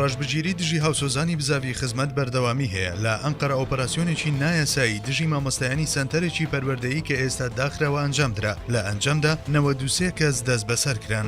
ڕەشبگیری دژی هاوسۆزانی بزاڤی خزمەت بەردەوامی هەیە، لە ئەنقەرە ئۆپەراسیۆنێکی نایاسایی دژی مامۆستایانی سەنتەرێکی پەروەردەیی کە ئێستا داخراوە ئەنجامدرا، لە ئەنجامدا 93 کەس دەستبەسەرکران.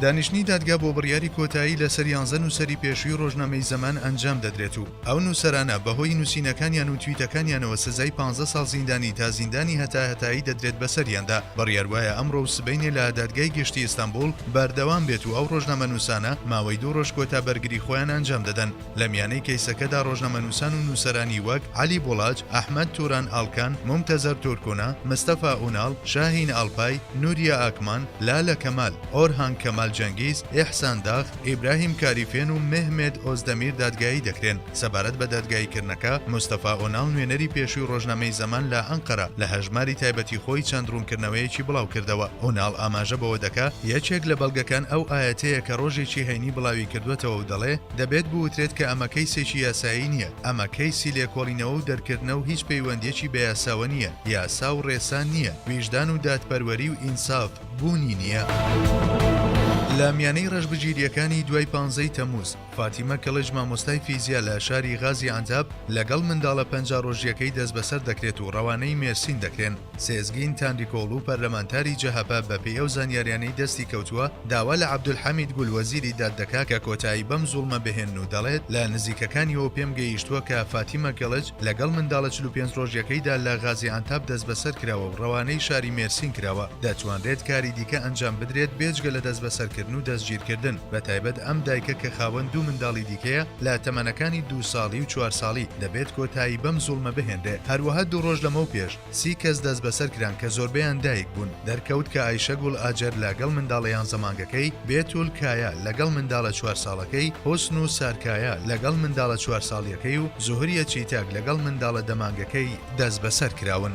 دانیشتنی دادگا بۆ بڕیاری کۆتایی لەسەر یانزە نووسەری پێشووی ڕۆژنامەی زەمان ئەنجام دەدرێت و ئەو نووسەرانە بەهۆی نووسینەکانیان و تویتەکانیانەوە سزای پانزە ساڵ زیندانی تا زیندانی هەتاهەتایی دەدرێت بەسەریاندا، بڕیار وایە ئەمڕۆ و سبەینێ لە دادگای گشتی ئیستەنبووڵ بەردەوام بێت و ئەو ڕۆژنامەنووسانە ماوەی دوو ڕۆژ کۆتا بەرگری خۆیان ئەنجام دەدەن. لە میانەی کەیسەکەدا ڕۆژنامەنووسان و نووسەرانی وەک، عەلی بوڵاچ، ئەحمەد توران ئالکان، مومتەزەر تورکونا، مستەفا ئوناڵ، شاهین ئالپای، نوریە ئاکمان، لالە کەمال، ئۆرهان کەمال جەنگیز، ئیحسان داغ، ئیبراهیم کاریفێن و مه مێد ئۆزدەمیر دادگایی دەکرێن. سەبارەت بە دادگاییکردنەکە، مستەفا ئۆناڵ نوێنەری پێشووی ڕۆژنامەی زەمان لە ئەنقەرە لە هەژماری تایبەتی خۆی چەند ڕوونکردنەوەیەکی بڵاو کردەوە. ئۆناڵ ئاماژە بەوە دەکا یەکێک لە بەڵگەکان ئەو ئایەتەیە کە ڕۆژێکی هەینی بڵاوی کردووەتەوە و دەڵێ، دەبێت بوترێت کە ئەمە کەیسێکی یاسایی نییە، ئەمە کەیسی لێکۆڵینەوە و دەرکردنە و هیچ پەیوەندییەکی بە یاساوە نییە، یاسا و ڕێسا نییە، ویژدان و دادپەروەری و ئینساف. بوونی نییە. لە میانەی ڕەشبگیرییەکانی دوای پانزەی تەمووز، فاتیمە کڵچ مامۆستای فیزیا لە شاری غازی عەنتاب لەگەڵ منداڵە پەنجا ڕۆژییەکەی دەستبەسەر دەکرێت و ڕەوانەی مێرسین دەکرێن. سێزگین تانریکۆڵو پەرلەمانتاری جەهەپە بەپێی ئەو زانیاریانەی دەستی کەوتووە داوا لە عەبدولحەمید گول وەزیری داد دەکات کە کۆتایی بەم زوڵمە بهێنن و دەڵێت لە نزیکەکانیەوە پێم گەیشتووە کە فاتیمە کڵچ لەگەڵ منداڵە چل و پێنج ڕۆژیەکەیدا لە غازیئانتاپ دەستبەسەر کراوە و ڕەوانەی شاری مێرسین کراوە، دەتوانرێت کاری دیکە ئەنجام بدرێت بێجگە لە دەستبەسەرکردن و دەستگیرکردن، بەتایبەت ئەم دایکە کە خاوەن دوو منداڵی دیکەیە لە تەمەنەکانی دوو ساڵی و چوار ساڵی، دەبێت کۆتایی بەم زوڵمە بهێنرێت، هەروەها دوو ڕۆژ لەمەو پێش، سی کەس دەستبەسەر کران کە زۆربەیان دایک بوون، دەرکەوت کە ئایشەگوڵ ئاجەر لە گەڵ منداڵە یان زەمانگەکەی، بێتول کایا لە گەڵ منداڵە چوار ساڵەکەی، حوسن و سار کایا لە گەڵ منداڵە چوار ساڵیەکەی و زوهریە چیتاک لە گەڵ منداڵە دە مانگەکەی دەستبەسەر کراون.